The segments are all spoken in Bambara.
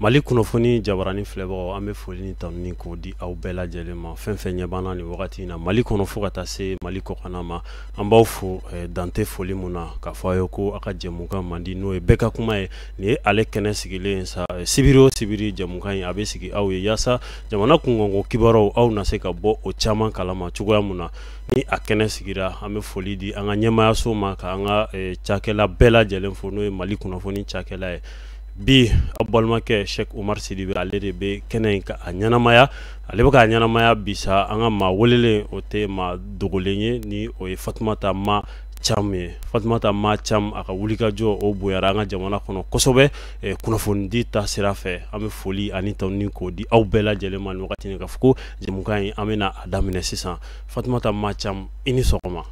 mali kunnafoni jabarani filɛbagaw an bɛ foli ni tanuni k'o di aw bɛɛ lajɛlen ma fɛn fɛn ɲɛ b'an na nin wagati in na mali kɔnɔ fo ka taa se mali kɔkana ma an b'aw fo eh, dan tɛ foli mun na k'a fɔ a ye ko a ka jɛmukan mandi n'o ye bɛɛ ka kuma ye nin ye ale kɛnɛ sigilen sa sibiri o sibiri jɛmukan in a bɛ sigi aw ye yaasa jamana kunkanko kibaruw aw na se ka bɔ o caman kalama cogoya min na ni a kɛnɛ sigira an bɛ foli di an ka ɲɛmaayaso ma ka an ka cakɛla bɛɛ lajɛlen fo n'o ye mali kunnafoni cakɛla ye bi aw balimakɛ sɛki omar sidibe ale de bɛ kɛnɛ in ka a ɲɛnamaya ale bɛ k'a ɲɛnamaya bi sa an ka maa welelen o tɛ maa dogolen ye ni o ye fatumata ma cam ye fatumata ma cam a ka wulikajɔ o bonyara an ka jamana kɔnɔ kosɛbɛ eh, kunnafonidi ta sira fɛ an bɛ foli ani tanuni k'o di aw bɛɛ lajɛlen ma nin wagati nin k'a fɔ ko jɛmukan in an bɛna a daminɛ sisan fatumata ma cam i ni sɔgɔma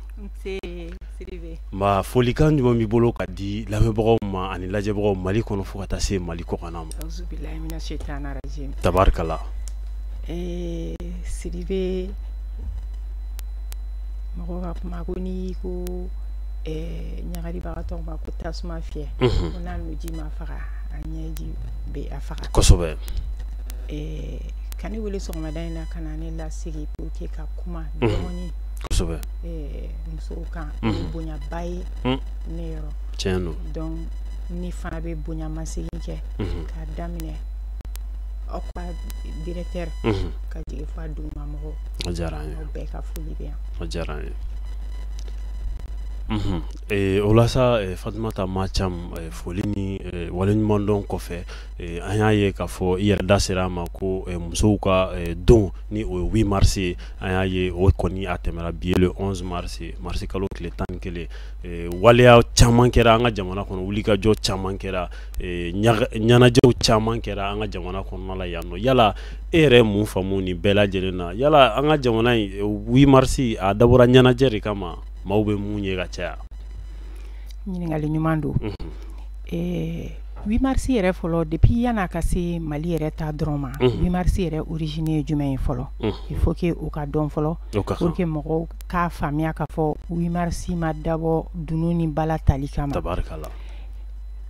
nba folikan jumɛn b'i bolo ka di lamɛnbagaw ma ani lajɛbagaw mali kɔnɔ fo ka taa se mali kɔkana ma tabarikala eh, sidibe mɔgɔ ka kuma ko n'i ko eh, ɲagalibagatɔ ma ko tasuma fiyɛ mhm. ko n'a nuji m'a faga a ɲɛji bɛ a faga kosɛbɛ eh, ka ne wele sɔgɔmada in na ka na ne lasigi pour que ka kuma mhm. dɔɔni kosɛbɛ eh, musow kan o mhm. bonyaba ye mm. ne yɔrɔ tiɲɛ don donc ne fana bɛ bonyamasegin kɛ k'a daminɛ aw ka directeur ka jigin fo a dugumamɔgɔw diyara an ye a diyara an ye ee o la sa fatumata ma cam foli ni waleɲumandɔn kɔfɛ an y'a ye k'a fɔ i yɛrɛ da sera a ma ko musow ka don ni o ye huit mars ye an y'a ye o kɔni a tɛmɛra bi ye le onze mars marisi kalo tile tan ni kelen waleya caman kɛra an ka jamana kɔnɔ wulikajɔ caman kɛra ɲɛnajɛw caman kɛra an ka jamana kɔnɔna la yan nɔ yala e yɛrɛ mun faamu nin bɛɛ lajɛlen na yala an ka jamana in huit mars a dabɔra ɲɛnajɛ de kama maaw bɛ mun ye ka caya ɲininkakali ɲuman don huit mars yɛrɛ fɔlɔ depuis yann'a ka se mali yɛrɛ ta dɔrɔn ma huit mars yɛrɛ origine ye jumɛn ye fɔlɔ il faut que o ka dɔn fɔlɔ pour que mɔgɔw k'a faamuya k'a fɔ huit mars ma dabɔ dunun ni bala tali kama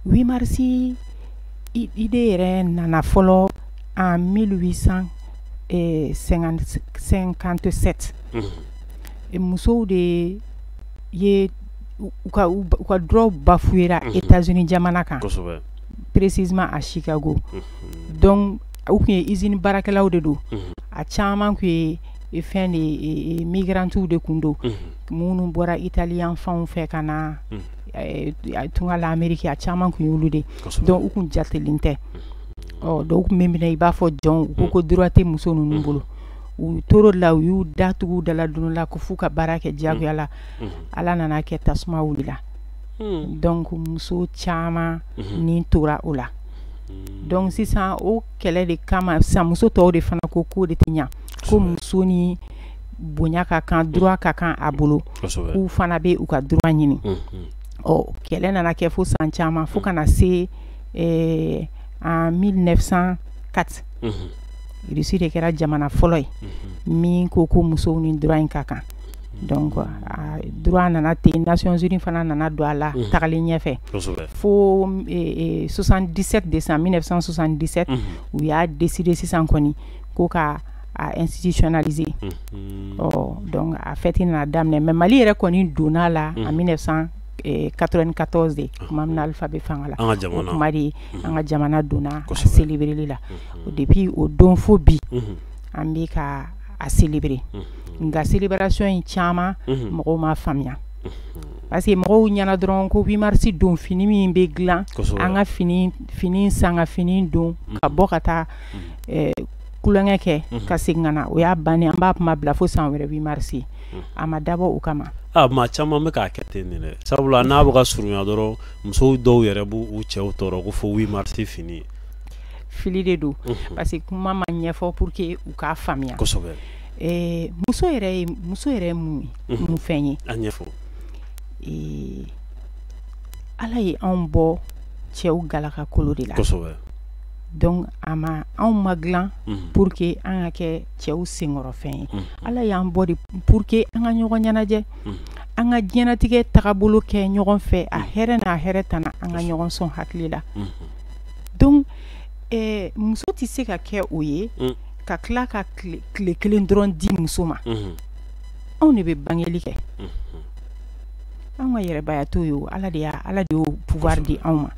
8 mars idée yɛrɛ nana fɔlɔ en 1857 musow de ye u ka droit bafouera États-Unis jamana kan, kosɛbɛ, précisément à Chicago, unhun, donc u tun ye usine baarakɛlaw de don, unhun, a caman tun ye fɛn de migrantiw de tun don minnu bɔra Italie yan fanw fɛ ka na tunga la ameriki a caman tun y'olu de don u tun jatelen tɛ donc u tun bɛ minɛ i b'a fɔ jɔnw u ko ko droit tɛ muso ninnu bolo u tɔɔrɔla u y'u datugu u da la don o la ko f'u ka baara kɛ diyagoya la ala nana kɛ tasuma wulila donc muso caman ni tora o la donc sisan o kɛlɛ de kama sa muso tɔw de fana ko k'o de tɛ ɲɛ ko muso ni bonya ka kan droit ka kan a bolo kosɛbɛ k'u fana bɛ u ka droit ɲini unhun ɔ kɛlɛ nana kɛ fo san caman fo ka na se ɛɛ en 1904 unhun Russie de kɛra jamana fɔlɔ ye unhun min ko ko musow ni droit in ka kan donc a droit nana ten Nations Unies fana nana don a la unhun tagalen ɲɛfɛ kosɛbɛ fo m e e 77 décembre 1977 unhun u y'a décider sisan kɔni ko ka a institutionnaliser mhm. ɔ oh, donc a fête nana daminɛ mais Mali yɛrɛ kɔni donna la en 1994 eh, de ah. tuma min na Alpha bɛ fanga la o tuma de mhm. an ka jamana donna a célébreli la mhm. depuis o don fo bi an bɛ ka a célébrer nka célébration in caman mɔgɔw m'a faamuya parce que mɔgɔw ɲɛna dɔrɔn ko 8 mars don fini min bɛ dilan an ka fini san ka fini don ka bɔ ka taa eh, tulonkɛ kɛ ka segin ka na o y'a ban an b'a kuma bila fo san wɛrɛ 8 mars a ma dabɔ o kama maa caman bɛ k'a kɛ ten de dɛ sabula n'a bɛ ka surunya dɔrɔn musow dɔw yɛrɛ b'u cɛw tɔɔrɔ ko fo 8 mars fini fili de don parce que kuma ma ɲɛfɔ pour que u k'a faamuya muso muso yɛrɛ ye mun fɛn ye a ɲɛfɔ ala ye anw bɔ cɛw galakakolo de la donc a ma anw ma dilan pour que an ka kɛ cɛw senkɔrɔfɛn ye ala y'an bɔ de pour que an ka ɲɔgɔn ɲɛnajɛ an ka diɲɛnatigɛ tagabolo kɛ ɲɔgɔn fɛ a hɛrɛ n'a hɛrɛ tana an ka ɲɔgɔn sɔn hakili la donc muso tɛ se ka kɛ o ye ka tila ka tile kelen dɔrɔn di muso ma anw de bɛ bangeli kɛ an ka yɛrɛbaya t'o ye ala de y'o pouvoir di anw ma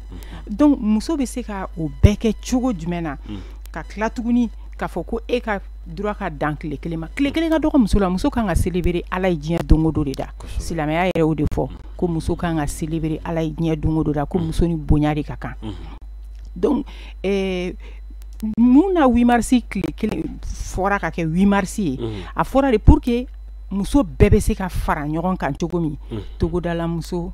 donc muso bɛ se ka o bɛɛ kɛ cogo jumɛn na ka tila tuguni k'a fɔ ko e ka droit ka dan tile kelen ma tile kelen ka dɔgɔ muso la muso kan ka célébrer ala ye diɲɛ don o don de da silamɛya yɛrɛ o de fɔ ko muso kan ka célébrer ala ye diɲɛ don o don da ko muso ni bonya de ka kan donc mun na huit mars tile kelen fɔra ka kɛ huit mars ye a fɔra de pour que muso bɛɛ bɛ se ka fara ɲɔgɔn kan cogo min togodalamuso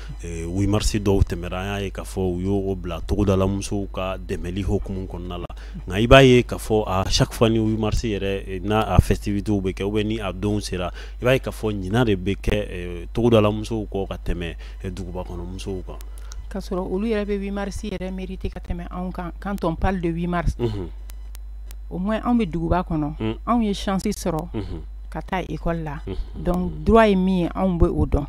huit mars dɔw tɛmɛra an y'a ye k'a fɔ u y'o bila togodalamusow ka dɛmɛli hukumu kɔnɔna la nka i b'a ye k'a fɔ à chaque fois ni huit mars yɛrɛ n'a a festivitéw bɛ kɛ ou bien ni a donw sera i b'a ye k'a fɔ ɲina de bɛ kɛ togodalamusow kɔ ka tɛmɛ duguba kɔnɔmusow kan k'a sɔrɔ olu yɛrɛ bɛ huit mars yɛrɛ mériter ka tɛmɛ anw kan quand on parle de huit mars au moins anw bɛ duguba kɔnɔ anw ye chance sɔrɔ ka taa école la donc droit ye min ye anw bɛ o dɔn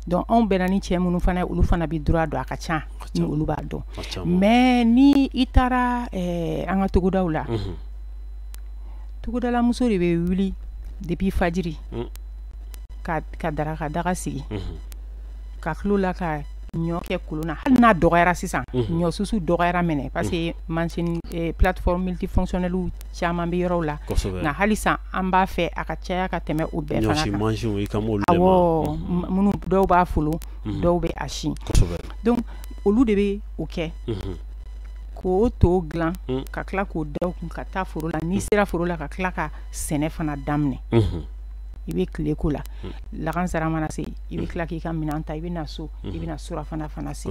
donc anw bɛnna ni cɛ minnu fana olu fana bɛ droit dɔn a ka ca ni olu b'a dɔn mais ni i taara eh, an ka togodaw la mhm. togodalamuso de bɛ wuli depuis fajiri mm. ka daraka daga sigi mhm. ka tulo la ka ɲɔ kɛ kolon na hali n'a dɔgɔyara sisan mhm. ɲɔ susu dɔgɔyara maintenant parce que mansin eh, plateforme multifonctionnelle caman bɛ yɔrɔw la nka halisa an b'a fɛ a ka caya ka tɛmɛ o bɛɛ fana kan minnu dɔw b'a folo mhm. dɔw bɛ a si donc olu de bɛ o kɛ mhm. k'o to dilan mhm. ka tila k'o da u kun ka taa foro la n'i sera foro la ka tila ka sɛnɛ fana daminɛ i bɛ tile ko la lagansara mana se i bɛ tila k'i ka minɛn ta i bɛ na so i bɛ na surafana fana se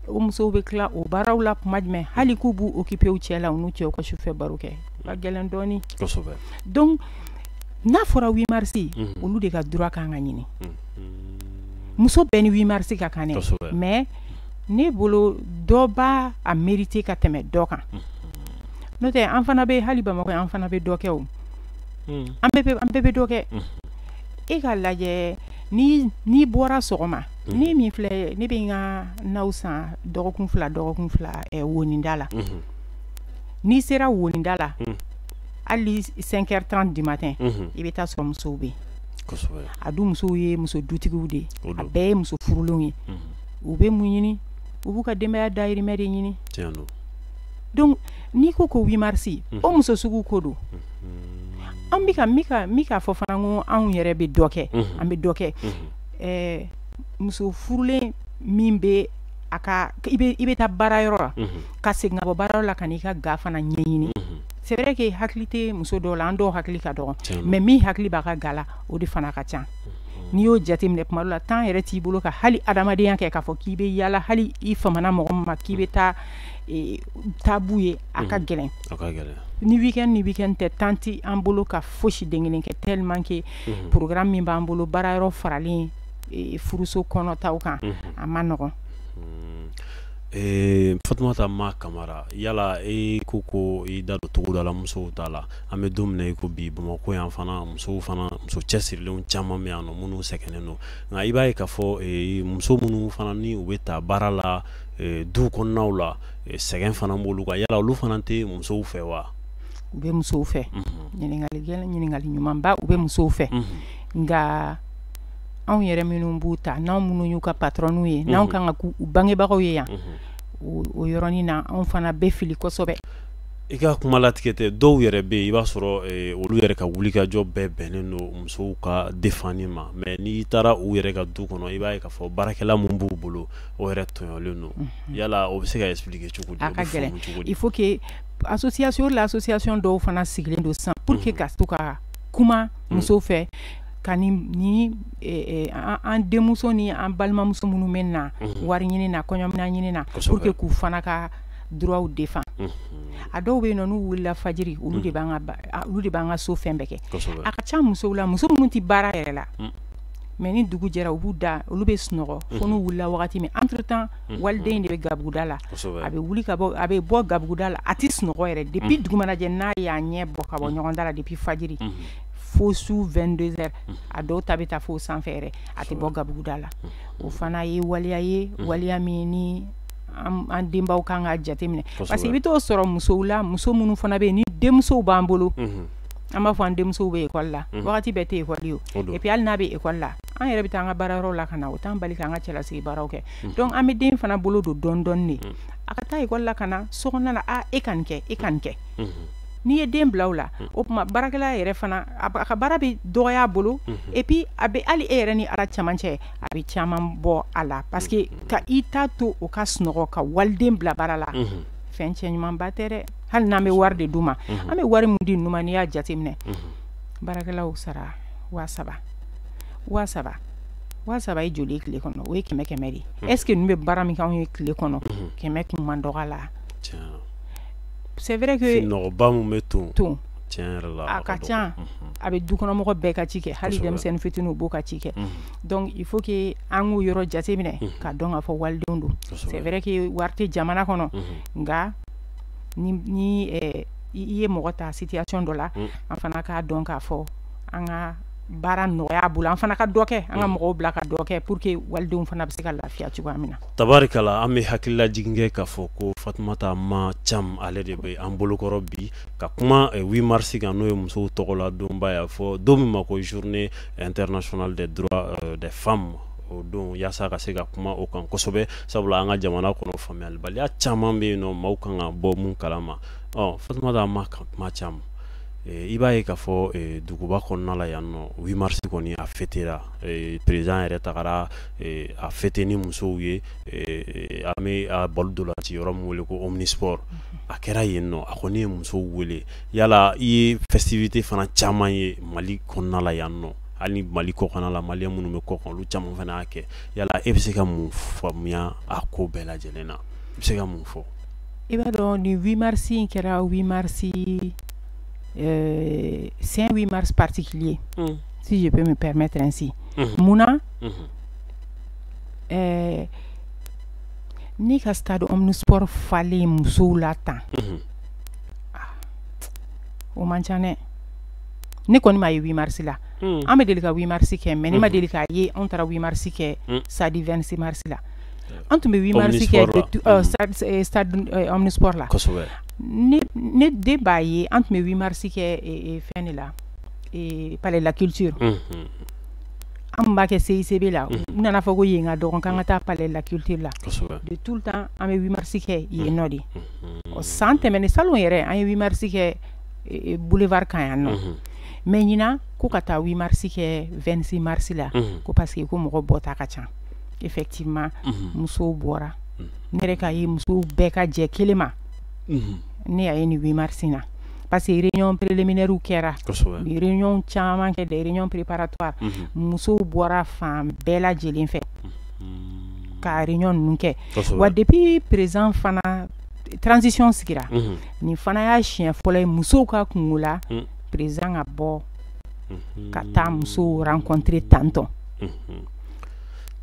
o musow bɛ tila o baaraw la kuma jumɛn hali k'u b'u occuper u cɛ la u n'u cɛw ka sufɛ baro kɛ ka gɛlɛn dɔɔni kosɛbɛ donc n'a fɔra huit mars mhm. olu de ka droit kan ka ɲini mhm. muso bɛɛ ni huit mars ka kan dɛ mais ne bolo dɔ b'a a mériter ka tɛmɛ dɔ kan mhm. n'o tɛ an fana bɛ hali bamakɔ an fana bɛ dɔ kɛ o an bɛɛ bɛ dɔ kɛ e ka lajɛ n'i bɔra sɔgɔma ne min filɛ ne bɛ n ka naw san dɔgɔkun fila dɔgɔkun fila wonida la n'i sera wonida la hali cinq heures trente du matin i bɛ taa sɔrɔ musow bɛ yen a dun musow ye muso dutigiw de ye a bɛɛ ye muso furulenw ye u bɛ mun ɲini u b'u ka denbaya dahirimɛ de ɲini donc n'i ko ko huit mars o muso sugu ko don an bɛ ka fɔ fana ko anw yɛrɛ bɛ dɔ kɛ an bɛ dɔ kɛ ɛɛ muso furulen min bɛ a ka i bɛ taa baara yɔrɔ la ka segin ka bɔ baara yɔrɔ la ka n'i ka ga fana ɲɛɲini c'est vrai que hakili tɛ muso dɔw la an dɔw hakili ka dɔgɔn mais min hakili b'a ka ga la o de fana ka ca n'i y'o jateminɛ tuma dɔ la temps yɛrɛ t'i bolo ka hali adamadenya kɛ k'a fɔ k'i bɛ yaala hali i famana mɔgɔ min ma k'i bɛ taa taa b'u ye a ka gɛlɛn ni weekend ni weekend tɛ temps tɛ an bolo ka fosi den kelen kɛ tellement que programme min b'an bolo baara yɔrɔ faralen furuso kɔnɔtaw kan a ma nɔgɔ fatumata ma kamara yala e ko ko i da don togodala musow ta la an bɛ don min na i ko bi bamakɔ yan fana musow fana muso cɛsirilenw caman bɛ yan nɔ minnu sɛgɛnnen don nka i b'a ye k'a fɔ muso minnu fana ni u bɛ taa baara la du kɔnɔnaw la sɛgɛn fana b'olu kan yala olu fana tɛ musow fɛ wa u bɛ musow fɛ ɲininkali ɲininkali ɲumanba u bɛ musow fɛ nka anw yɛrɛ minnu b'u ta n'an minnu y'u ka patronw ye n'an kan ka k'u bangebagaw ye yan o yɔrɔnin na anw fana bɛ fili kosɛbɛ i ka kuma latigɛ tɛ dɔw yɛrɛ bɛ yen i b'a sɔrɔ olu yɛrɛ ka wulikajɔ bɛɛ bɛnnen don musow ka défense ma mais n'i taara u yɛrɛ ka du kɔnɔ i b'a ye k'a fɔ baarakɛla min b'u bolo o yɛrɛ tɔɲɔlen don yala o bɛ se ka expliquer cogo di fo association l'association dɔw fana sigilen don sisan pour que ka to ka kuma muso fɛ ka ni an denmuso ni an balimamuso minnu bɛ na wari ɲini na kɔɲɔmina ɲini na pour que k'u fana ka droitw défendre a dɔw bɛ yen n'u wulila fajiri olu de olu de b'an ka so fɛn bɛɛ kɛ a ka ca musow la muso minnu tɛ baara yɛrɛ la mais ni dugu jɛra u b'u da olu bɛ sunɔgɔ fo n'u wulila wagati min entre temps waliden de bɛ gabuguda la a bɛ wuli ka bɔ a bɛ bɔ gabuguda la a tɛ sunɔgɔ yɛrɛ depuis dugu mana jɛ n'a y'a ɲɛ bɔ ka bɔ ɲɔgɔn da la depuis fajiri fo su 22h a dɔw ta bɛ taa fo sanfɛ yɛrɛ a tɛ bɔ gabuguda la o fana ye waleya ye waleya min ni an denbaw kan ka jateminɛ parce que i bɛ t'o sɔrɔ musow la muso minnu fana bɛ yen ni denmusow b'an bolo an b'a fɔ an denmuso bɛ ekɔli la wagati bɛɛ tɛ ekɔli ye et puis hali n'a bɛ ekɔli la an yɛrɛ bɛ taa an ka baarayɔrɔ la ka na o t'an bali k'an ka cɛlasigi baaraw kɛ mm-hmm. donc an bɛ den fana bolo don dɔɔni dɔɔni de a ka taa ekɔli la ka na so kɔnɔna na a e ka nin kɛ e ka nin kɛ n'i ye den bila o la mm. o tuma baarakɛla yɛrɛ fana a ka baara bɛ dɔgɔya a bolo mm-hmm. et puis a bɛ hali e yɛrɛ ni ala camancɛ a bɛ caman bɔ a la parce que mm-hmm. ka i ta to o ka sunɔgɔ ka waliden bila baara la mm-hmm. fɛn cɛɲumanba tɛ dɛ hali n'an bɛ wari de d'u ma an bɛ wari min di ninnu ma n'i y'a jateminɛ baarakɛlaw sara waa saba waa saba waa saba ye joli tile kɔnɔ o ye kɛmɛ kɛmɛ de est-ce que ninnu bɛ baara min kɛ an ye tile kɔnɔ kɛmɛ tun man dɔgɔ a la c'est vrai bɛ to to a ka ca a bɛ dukɔnɔmɔgɔ bɛɛ ka ci kɛ hali denmisɛnnin fitinin b'o ka ci kɛ donc il faut que an k'u yɔrɔ jate minɛ ka dɔn k'a fɔ walidenw don c'est vrai que wari tɛ jamana kɔnɔ nka ni i ye mɔgɔ ta situation dɔ la an fana k'a dɔn k'a fɔ an ka baara nɔgɔya bolo an fana ka dɔ kɛ an ka mm. mɔgɔw bila ka dɔ kɛ pour que walidenw fana bɛ se ka lafiya cogoya min na tabarikala an bɛ hakililajigin kɛ k'a fɔ ko fatumata ma cam ale de bɛ an bolokɔrɔ bi ka kuma 8 eh, mars kan n'o ye musow tɔgɔ la donba y'a fɔ don min ma ko journée internationale des droits euh, des femmes o don yaasa ka se ka kuma o kan kosɛbɛ sabula an ka jamana kɔnɔ faamuyalibaliya caman bɛ yen nɔ maaw kan ka bɔ mun kalama ɔ fatumata ma kuma cam Eh, i b'a ye k'a fɔ eh, duguba kɔnɔna la yan nɔ 8 mars kɔni a fêtera eh, président yɛrɛ tagara a fêter ni musow ye an bɛ a balɔn ntolaciyɔrɔ min wele ko omnisport a kɛra yen nɔ a kɔni ye musow wele yala i ye festivité fana caman ye mali kɔnɔna la yan nɔ hali ni mali kɔkanna la maliyɛn minnu bɛ kɔkan olu caman fana y'a kɛ yala e bɛ se ka mun faamuya a ko bɛɛ lajɛlen na i bɛ se ka mun fɔ i b'a dɔn nin 8 mars in kɛra 8 mars euh, c'est un 8 mars particulier, mm. si je peux me permettre ainsi. Mm-hmm. Mun na, mm-hmm. euh, ni ka stade omnisport falen musow la tan mm-hmm. ah, o man ca dɛ ne kɔni m'a ye 8 mars la mm. an bɛ deli ka 8 mars kɛ mais ne ma deli k'a ye anw taara 8 mars kɛ mm. stade 26 mars la an tun bɛ 8 mars kɛ stade omnisport la ne den b'a ye an tun bɛ wimarisi kɛ fɛn de la pale la kiiriti an b'a kɛ se sebe la n nana fɔ ko yen ka dɔgɔn an ka taa pale la kiirite la de tu tan an bɛ wimarisi kɛ yen nɔ de ɔ san tɛmɛn ni sa yɛrɛ an ye wimarisi kɛ bolofa ka yan nɔ mɛ ɲin ko ka taa wimarisi kɛ2si marisi la ko pa que ko mɔgɔ bɔta ka ca effectivement mhm. musow bɔra mhm. ne yɛrɛ k'a ye musow bɛɛ ka jɛ kelen ma mhm. ne y'a ye nin 8 mars na parce que réunion préliminaire kɛra réunion caman kɛ des réunions préparatoires musow bɔra fan bɛɛ lajɛlen fɛ ka réunion ninnu kɛ wa depuis président fana transition sigira nin fana y'a siɲɛ fɔlɔ ye musow ka kunko la président ka bɔ ka taa musow rencontrer tantɔn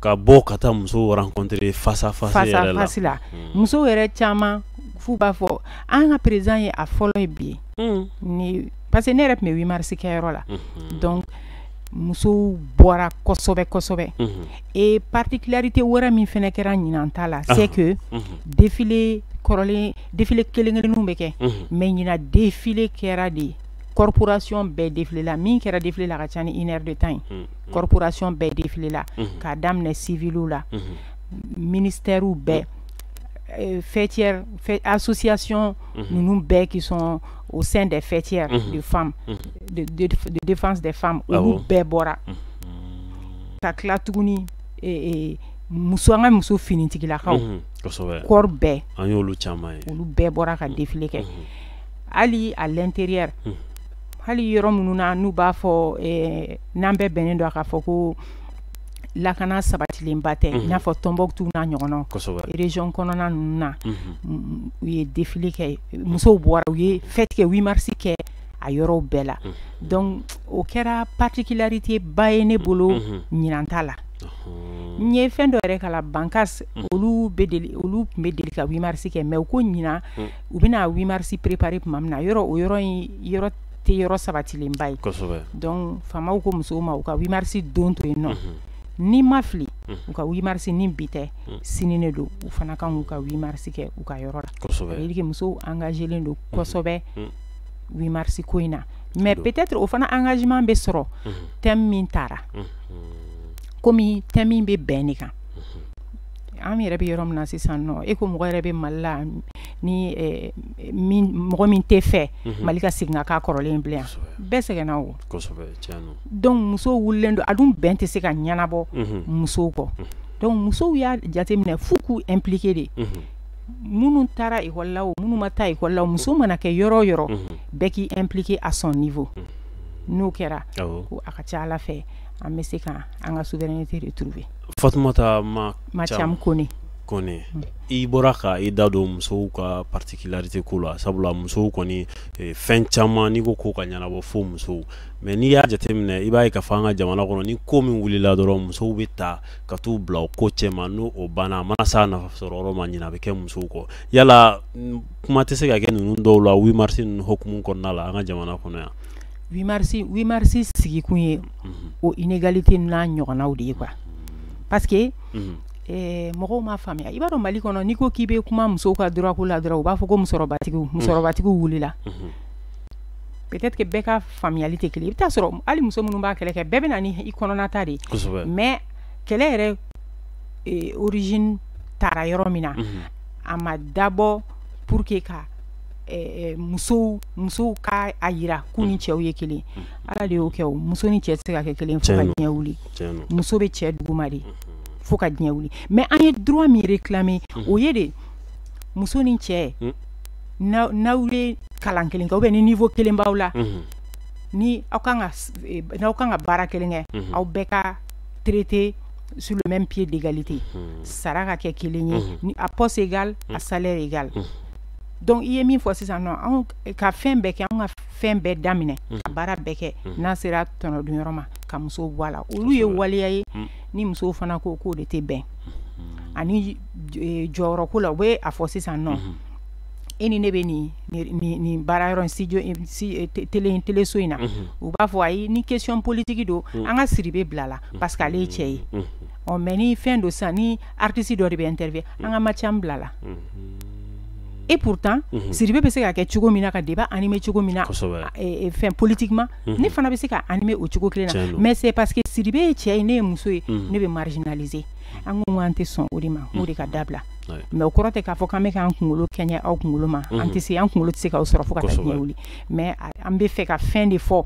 ka bɔ ka taa musow rencontrer face à face la muso yɛrɛ caman f'u b'a fɔ an ka président ye a fɔlɔ ye bi ye parce que ne yɛrɛ tun bɛ wimarisi kɛyɔrɔ la donc musow bɔra kosɛbɛ kosɛbɛ et particularité wɛrɛ min fana kɛra ɲinan ta la c'est que défilé kɔrɔlen défilé kelen kelenninw bɛ kɛ mais ɲinan défilé kɛra de corporation bɛɛ défilé la min kɛra défilé la ka ca ni une heure de temps ye mm. corporation bɛɛ défilé la mm-hmm. k'a daminɛ civiliw la mm-hmm. ministɛriw bɛɛ euh, faîtières associations mm-hmm. ninnu bɛɛ qui sont au sein des faîtières de femmes de, de, de défense des femmes ah olu bɛɛ bɔra ka tila tuguni muso an ka muso finitigilakaw corps bɛɛ an y'olu caman ye olu bɛɛ bɔra ka défilé kɛ hali à l'intérieur hali yɔrɔ minnu na n'u b'a fɔ eh, n'an bɛɛ bɛnnen don a k'a fɔ ko lakana sabatilenba tɛ mhm. i n'a fɔ tɔnbɔkutu n'a ɲɔgɔnnaw région kɔnɔna ninnu na mhm. u ye défilé kɛ musow bɔra u ye fête kɛ 8 mars kɛ a yɔrɔw bɛɛ la mhm. donc o kɛra particularité ba ye ne bolo ɲinan ta la n ye fɛn dɔ yɛrɛ kalan bankas olu bɛ deli olu tun bɛ deli ka 8 mars kɛ mais u ko ɲinan u bɛna wimarisi préparer tuma min na yɔrɔ o yɔrɔ in yɔrɔ tɛ yɔrɔ sabatilenba ye donc faamaw ko musow ma u ka wimarisi don to yen nɔ ni n ma fili u ka wimarisi ni bi tɛ sini de don u fana kan k'u ka wimarisi kɛ u ka yɔrɔ la ça veut dire que musow engagélen don kosɛbɛ wimarisi ko in na mais peut-être o fana engagement bɛ sɔrɔ thème min tara kɔmi thème min bɛ bɛn de kan an yɛrɛ bɛ yɔrɔ min na sisan nɔ e ko mɔgɔ yɛrɛ bɛ mali la ni eh, mɔgɔ min t'a fɛ mhm. mali ka segin ka kɔrɔlen bilen bɛɛ sɛgɛnna o dɔnku musow wulilen don a dun bɛn tɛ se ka ɲɛnabɔ mhm. musow kɔ mhm. dɔnku musow y'a jateminɛ fo k'u impliquer de minnu taara école la o minnu ma taa école la o muso mana kɛ yɔrɔ o yɔrɔ bɛɛ k'i impliquer à son niveau n'o kɛra ko a ka ca ala fɛ an bɛ se ka an ka souveraineté retrouver Fatumata madamu Kone i bɔra ka i da don musow ka particularité ko la sabula musow kɔni fɛn caman n'i ko ko ka ɲɛnabɔ fo musow mais n'i y'a jateminɛ i b'a ye k'a fɔ an ka jamana kɔnɔ ni ko min wulila dɔrɔn musow bɛ ta ka t'u bila o ko cɛma ni o banna a mana s'a nafa sɔrɔ yɔrɔ ma ɲina bɛ kɛ musow kɔ yala kuma tɛ se ka kɛ ninnu dɔw la wimarisi ninnu hukumu kɔnɔna la an ka jamana kɔnɔ yan wimarisi sigikun ye o inégalité n'a ɲɔgɔnnaw de ye quoi parce que mɔgɔw m'a faamuya i b'a dɔn mali kɔnɔ n'i ko k'i bɛ kuma musow ka droit ko la dɔrɔn u b'a fɔ ko muso musɔrɔbatigiw wulila peut-être que bɛɛ ka faamuyali tɛ kelen i bɛ taa sɔrɔ hali muso minnu b'a kɛlɛ kɛ bɛɛ bɛ na ni i kɔnɔnata de mais kɛlɛ yɛrɛ origine taara yɔrɔ min na a ma dabɔ pour que ka musow musow ka a yira k'u ni cɛw ye kelen ala de y'o kɛ o muso ni cɛ tɛ se ka kɛ kelen fo ka diɲɛ wuli muso bɛ cɛ duguma de fo ka diɲɛ wuli mais an ye droit min réclamer o ye de muso ni cɛ n'aw ye kalan kelen kɛ ou bien ni niveau kelen b'aw la ni aw kan n'aw kan ka baara kelen kɛ aw bɛɛ ka traiter sur le même pied d'égalité sara ka kɛ kelen ye à poste égal à salaire égal donc i ye min fɔ sisan nɔ anw ka fɛn bɛɛ kɛ anw ka fɛn bɛɛ daminɛ mhm. ka baara bɛɛ kɛ mhm. n'a sera tɔnɔdun yɔrɔ ma ka musow bɔ a la olu ye waleya ye mhm. ni musow fana ko k'o de tɛ bɛn ani e, jɔyɔrɔko la u bɛ a fɔ sisan nɔ e ni ne bɛ nin nin baara yɔrɔ studio e, e, tele in teleso in na u b'a fɔ ayi ni question politique don an ka Sidibe bila la parce que ale ye cɛ ye ɔ mais ni fɛn don sisan ni artiste dɔ de bɛ interview an ka Mathiam bila la et pourtant Sidibe bɛ se ka kɛ cogo min na ka débat animer cogo min na fɛn politiquement ne fana bɛ se ka animer o cogo kelen na mais c'est parce que Sidibe ye cɛ ye ne ye muso ye ne bɛ marginaliser an ko an tɛ sɔn o de ma o de ka dabila mais o kɔrɔ tɛ k'a fɔ k'an bɛ k'an kunkolo kɛɲɛ aw kunkolo ma an tɛ se an kunkolo tɛ se k'aw sɔrɔ fo ka taa diɲɛ wuli mais an bɛ fɛ ka fɛn de fɔ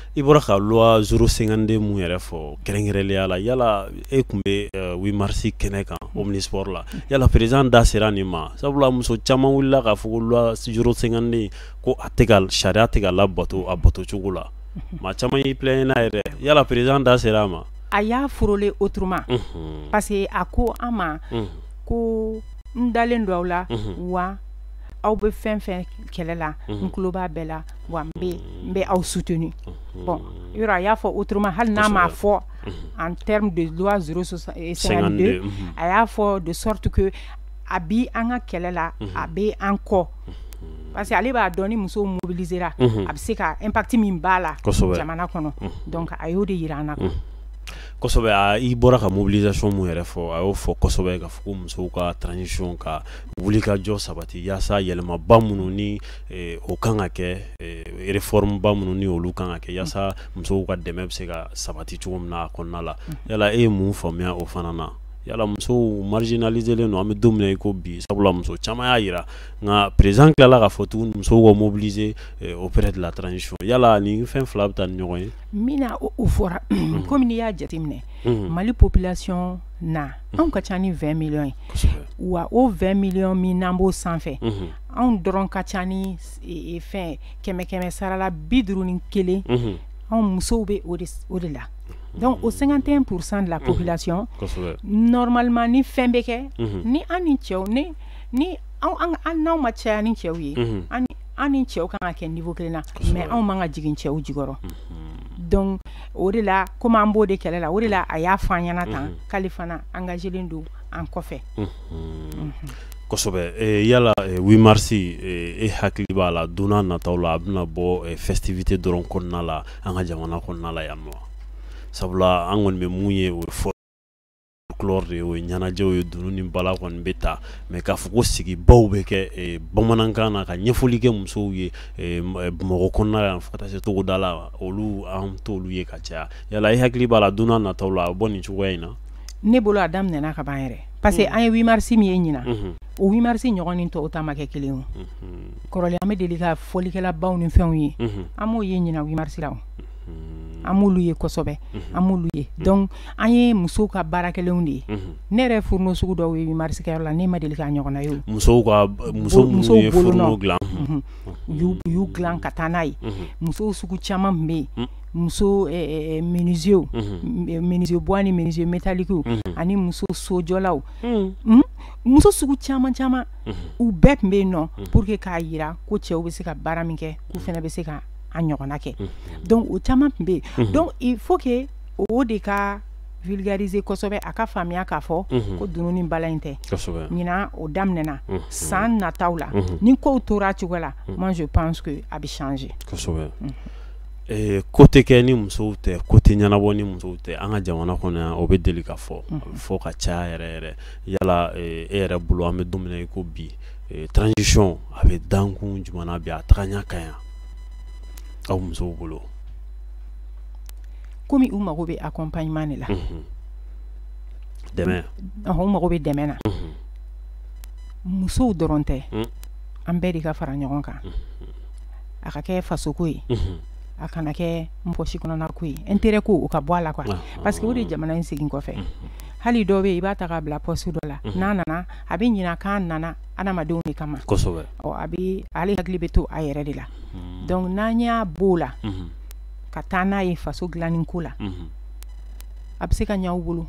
i bɔra ka loi 052 mun yɛrɛ fɔ kɛrɛnkɛrɛnnenya la yala e tun bɛ 8 mars kɛnɛ kan omnisport la yala président da sera nin ma sabula muso caman wulila k'a fɔ ko loi 052 ko a tɛ ka sariya tɛ ka labato a bato cogo la maa caman y'i plaigner n'a yɛrɛ yala président da sera a ma a y'a frôler autrement parce que a ko an ma ko n dalen don aw la wa aw bɛ fɛn fɛn kɛlɛ la n tulo b'a bɛɛ la wa n bɛ n bɛ aw soutenu bon yɔrɔ a y'a fɔ autrement hali n'a m'a fɔ en termes de loi 052 a y'a fɔ de sorte que a bi an ka kɛlɛ la a bɛ an kɔ parce que ale b'a dɔn ni musow mobilisera a bɛ se ka impact min b'a la jamana kɔnɔ donc a y'o de yira an na quoi kosɛbɛ a i bɔra ka mobilisation mun yɛrɛ fɔ a y'o fɔ kosɛbɛ ka fɔ ko musow ka transition ka wulikajɔ sabati yaasa yɛlɛmaba minnu ni Eh, o kan ka kɛ eh, reformba minnu ni olu kan ka kɛ yaasa musow ka dɛmɛ bɛ se ka sabati cogo min na a kɔnɔna la mm-hmm. yala e ye mun faamuya o fana na yala musow marginaliselen don an bɛ don min i ko bi sabula muso caman y'a yira nka président tilala k'a fɔ tuguni musow ka mobiliser eh, auprès de la transition yala nin fɛn fila bɛ taa ni ɲɔgɔn ye mun na o fɔra mm-hmm. komi n'i y'a jateminɛ mm-hmm. mali population na anw ka ca ni 20 millions ye wa o 20 millions min n'an b'o sanfɛ anw dɔrɔn ka ca ni fɛn kɛmɛ kɛmɛ sara la bi duuru ni kelen anw musow bɛ o de la donc o 51 pour cent de la population normalement ni fɛn bɛ kɛ ni an ni cɛw n'an ma caya ni cɛw ye an ni cɛw ka kan ka kɛ niveau kelen na mais anw man kan ka jigin cɛw jukɔrɔ donc o de la komi an b'o de kɛlɛ la o de la a y'a fɔ an ɲɛna tan k'ale fana engagelen don an kɔfɛ kosɛbɛ yala 8 mars e hakili b'a la don nataw la a bɛna bɔ festivité dɔrɔn kɔnɔna la an ka jamana kɔnɔna la yan wa sabula an kɔni bɛ mun ye o folklore de ye o ɲɛnajɛw ye dunun ni bala kɔni bɛ ta mais k'a fɔ ko sigibaw bɛ kɛ bamanankan na ka ɲɛfɔli kɛ musow ye bamakɔ kɔnɔna la yan fo ka taa se togoda la olu an t'olu ye ka caya yala e hakili b'a la don nataw la a bɔ nin cogoya in na ne bolo a daminɛna ka ban yɛrɛ parce que an ye 8 mars min ye ɲinan o 8 mars ɲɔgɔn ni tɔw ta ma kɛ kelen o kɔrɔlen an bɛ deli ka fɔlikɛlabaw ni fɛnw ye an m'o ye ɲinan 8 mars la o an m'olu ye kosɛbɛ an m'olu ye donc an ye musow ka baara kɛlenw de ye ne yɛrɛ fourneau sugu dɔw ye 8 mars kɛyɔrɔ la ne ma deli k'a ɲɔgɔnna ye o musow ka muso minnu ye fourneau dilan u y'u dilan ka taa n'a ye musow sugu caman tun bɛ yen muso menuisiers menuisier bois ani menuisier métallique ani muso sojɔlaw muso sugu caman caman u bɛɛ tun bɛ yen nɔ pour que k'a yira ko cɛw bɛ se ka baara min kɛ k'u fana bɛ se ka a ɲɔgɔnna kɛ donc o caman tun bɛ yen donc il faut que o de ka vulgariser kosɛbɛ a ka faamuya k'a fɔ ko dunun ni bala in tɛ ɲinan o daminɛna san nataw la ni kow tora cogo la moi je pense que a bɛ changer Ee ko tɛ kɛ ni musow tɛ ko tɛ ɲɛnabɔ ni musow tɛ an ka jamana kɔnɔ yan o bɛ deli ka fɔ fo ka ca yɛrɛ yɛrɛ yala e yɛrɛ bolo an bɛ don min i ko bi transition a bɛ dankun jumɛn bi a taga ɲɛ ka ɲa aw musow bolo kɔmi u mago bɛ accompagnement de la dɛmɛ u mago bɛ dɛmɛ na musow dɔrɔn tɛ an bɛɛ de ka fara ɲɔgɔn kan a ka kɛ fasoko ye a kana kɛ n pɔsi kɔnɔna ko ye intérêt ko o ka bɔ a la quoi parce que o de jamana in segin kɔfɛ hali dɔ bɛ i b'a ta k'a bila pɔsi dɔ la n'a nana a bɛ ɲina k'a nana adamadenw de kama kosɛbɛ a bɛ ale hakili bɛ to a yɛrɛ de la donc n'an y'a bɔ o la ka taa n'a ye faso dilanni ko la a bɛ se ka ɲɛ u bolo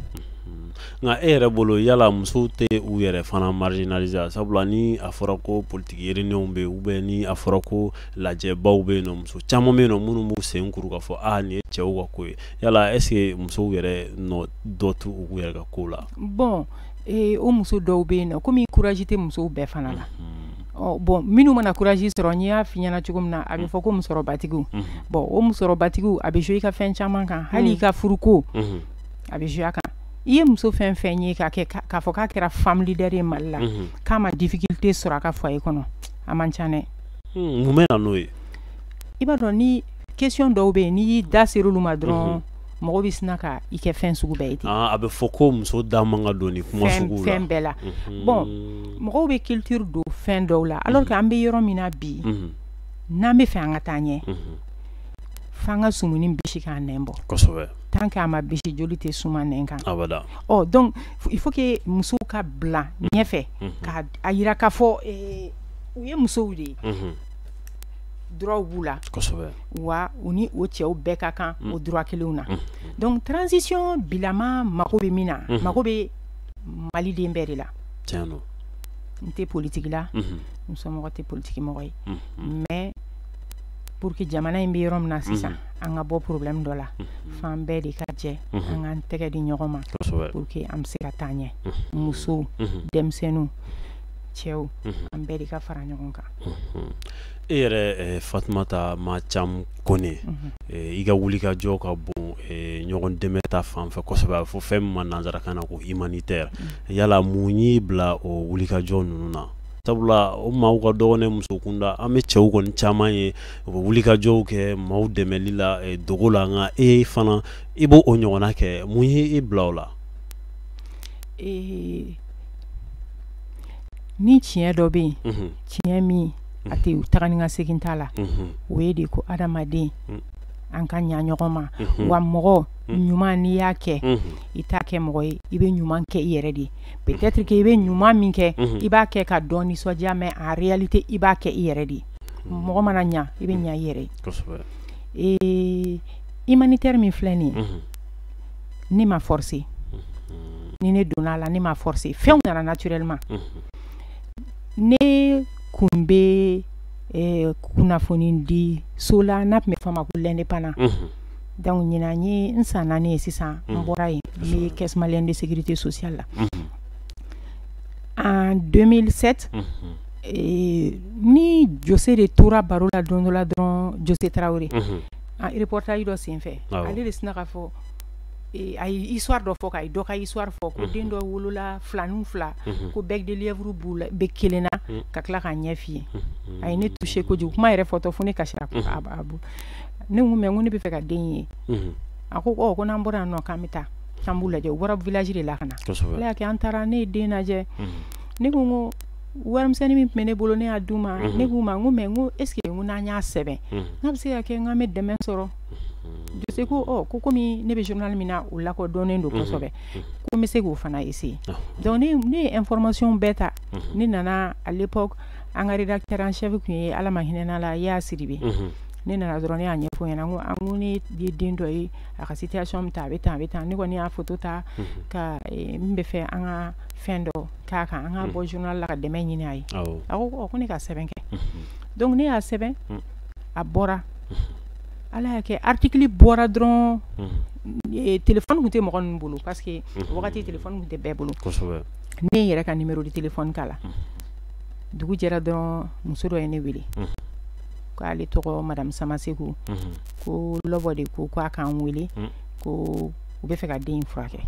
nka e yɛrɛ bolo yala musow tɛ u yɛrɛ fana marginaliser sabula ni a fɔra ko politiki réunionw bɛ u bɛ ni a fɔra ko lajɛbaw bɛ yen muso caman bɛ yen minnu b'u sen kuru ka fɔ aaa nin ye cɛw ka ko ye yala est-ce que musow yɛrɛ nɔ dɔ t'u yɛrɛ ka ko la bon o muso dɔw bɛ yen nɔ kɔmi courage tɛ musow bɛɛ fana la Ɔ bon minnu mana courage sɔrɔ n y'a f'i ɲɛna cogo min na a bɛ fɔ ko musɔrɔbatigiw bon o musɔrɔbatigiw a bɛ jouer i ka fɛn caman kan hali i ka furuko a bɛ jouer a kan i ye muso fɛn fɛn ye k'a fɔ k'a kɛra femme leader ye mali la k'a ma difficulté sɔrɔ a ka foyer kɔnɔ a man ca dɛ mun bɛ na n'o ye i b'a dɔn ni question dɔw bɛ yen n'i da sera olu ma dɔrɔn mɔgɔ bɛ sin ka i kɛ fɛn sugu bɛɛ ye ten a bɛ fɔ ko muso da man ka don kuma fɛn bɛɛ la bon mɔgɔw bɛ culture don fɛn dɔw la alors que an bɛ yɔrɔ min na bi n'an bɛ fɛ an ka taa ɲɛ f'an ka sumuni bisi ka nɛn bɔ kosɛbɛ tant que a ma bisi joli tɛ suman nɛn kan donc il faut que musow ka bila ɲɛfɛ k' a jira k'a fɔ u ye musow de ye droitw b'u la, kosɛbɛ, wa u ni o cɛw bɛɛ ka kan o droit kelenw na, unhun, donc transition bilama mako bɛ min na, unhun, mako bɛ Mali den bɛɛ de la, tiɲɛ don, n tɛ politiki la, unhun, n somɔgɔ tɛ politiki mɔgɔ ye, unhun, mais pour que jamana in bɛ yɔrɔ min na sisan, unhun, an ka bɔ problème dɔ la, unhun, f'an bɛɛ de ka jɛ, unhun, an k'an tɛgɛ di ɲɔgɔn ma, kosɛbɛ, pour que an bɛ se ka taa ɲɛ, unhun, musow, unhun, denmisɛnninw, cɛw, unhun, an bɛɛ de ka fara ɲɔgɔn kan. e yɛrɛ fatumata ma cam kɔnɛ i ka wulikajɔ ka bon ɲɔgɔn dɛmɛ ta fan fɛ kosɛbɛ a fɔ fɛn min ma nansarakan na ko humanitaire yala mun y'i bila o wulikajɔ ninnu na sabula o maaw ka dɔgɔn dɛ muso kunda an bɛ cɛw kɔni caman ye u bɛ wulikajɔw kɛ maaw dɛmɛli la dogo la nka e fana i b' o ɲɔgɔnna kɛ mun y' e bila o la ni tiɲɛ dɔ bɛ yen tiɲɛ min a tɛ taga ni ka segin t'a la o ye de ko adamaden an ka ɲɛ ɲɔgɔn ma wa mɔgɔ ɲuman n'i y'a kɛ i t'a kɛ mɔgɔ ye i bɛ ɲuman kɛ i yɛrɛ de ye peut-être k'i bɛ ɲuman min kɛ i b'a kɛ ka dɔ nisɔndiya mais en réalité i b'a kɛ i yɛrɛ de ye mɔgɔ mana ɲɛ i bɛ ɲɛ i yɛrɛ ye humanitaire min filɛ nin ye ne ma forcer ni ne donna a la ne ma forcer fɛnw nana naturellement ne kun bɛ eh, kunnafoni di so la n'a tun bɛ fɔ a ma ko l'indépendant donc ɲinan ye n san naani ye sisan n bɔra yen n bɛ caisse malienne de sécurité sociale la en 2007 eh, ni Jose de tora baro la don dɔ la dɔrɔn Jose Traoré reportage dɔ senfɛ ale de sina ka fɔ a ye histoire dɔ fɔ ka dɔ ka histoire fɔ ko den dɔ wolola filanin fila ko bec de lièvre bɛ kelen na ka tila k'a ɲɛ fiyen a ye ne toucher kojugu kuma yɛrɛ fɔtɔ fo ne kasira ne ko mais n ko ne bɛ fɛ ka den ye a ko ko n'an bɔra yan nɔ k'an bɛ taa an b'u lajɛ u bɔra village de la ka na ala y'a kɛ an taara ne ye den lajɛ ne ko ko warimisɛnnin min tun bɛ ne bolo ne y'a d'u ma ne k'u ma ko mais n ko est-ce que n ko n'an y'a sɛbɛn n'a bɛ se ka kɛ n k'an bɛ dɛmɛ sɔrɔ Jose ko ko kɔmi ne bɛ journal min na o lakodɔnnen don kosɛbɛ ko n bɛ se k'o fana essayer donc ne ne ye information bɛɛ ta ne nana à l'époque an ka rédacteur en chef tun ye ala ma hinɛna a la Yaya Sidibe ne nana dɔrɔn ne y'a ɲɛfɔ a ɲɛ na n ko ne ye den dɔ ye a ka situation bɛ tan a bɛ tan a bɛ tan ne kɔni ne y'a photo ta ko n bɛ fɛ an ka fɛn dɔ k'a kan an ka bɔ journal la ka dɛmɛ ɲini a ye a ko ko ne ka sɛbɛn kɛ donc ne y'a sɛbɛn a bɔra ala y'a kɛ article bɔra dɔrɔn téléphone tun tɛ mɔgɔ ninnu bolo parce que wagati téléphone tun tɛ bɛɛ bolo ne yɛrɛ ka numéro de téléphone k'a la dugu jɛra dɔrɔn muso dɔ ye ne wele k'ale tɔgɔ madame Samaseku ko Lobbo de ko k'a k'an wele ko u bɛ fɛ ka den in furakɛ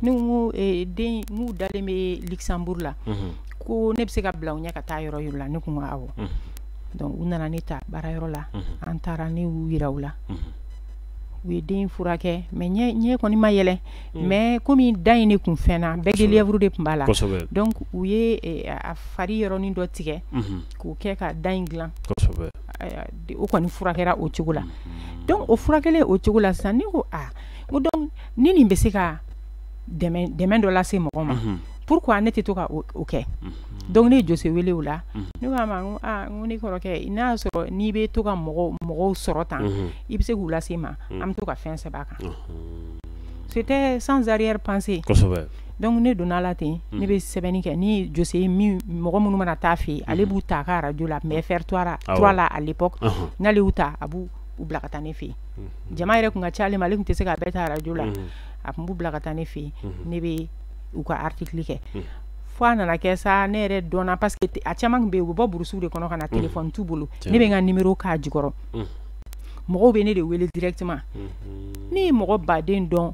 n'u dalen bɛ Luxembourg la ko ne bɛ se ka bila u ɲɛ ka taa yɔrɔ yɔrɔ la ne ko awɔ donc u nana ne ta baarayɔrɔ la an taara ne y'u jira u la u ye den furakɛ mais ɲɛ kɔni ma yɛlɛ mais kɔmi da in de tun fɛn na bec de lièvre de tun b'a la donc u ye a fari yɔrɔnin dɔ tigɛ k'o kɛ ka da in dilan o kɔni furakɛra o cogo la donc o furakɛlen o cogo la sisan ne ko aa ko donc ni nin bɛ se ka dɛmɛ dɔ lase mɔgɔ ma pourquoi ne tɛ to ka o kɛ donc ne ye Jose wele o la ne k'a ma ko ne kɔrɔkɛ n'a y'a sɔrɔ n'i bɛ to ka mɔgɔw mɔgɔw sɔrɔ tan i bɛ se k'u lase ma an bɛ to ka fɛn sɛbɛn a kan c'était sans arrière-pensée dɔnku ne donna a la ten ne bɛ sɛbɛnni kɛ ni José ye mɔgɔ minnu mana taa a fɛ yen ale b'u ta a ka arajo la FR3 la à l'époque n'ale y'u ta a b'u bila ka taa ne fɛ yen jama yɛrɛ tun ka ca ale ma ale tun tɛ se ka bɛɛ ta arajo la a tun b'u bila ka taa ne fɛ yen ne bɛ u ka article kɛ fo a nana kɛ sa ne yɛrɛ dɔnna parce que a caman bɛ yen u bɛ bɔ burusi de kɔnɔ ka na téléphone t'u bolo ne bɛ n ka numéro k'a jukɔrɔ mɔgɔw bɛ ne de wele directement ne ye mɔgɔ baden dɔn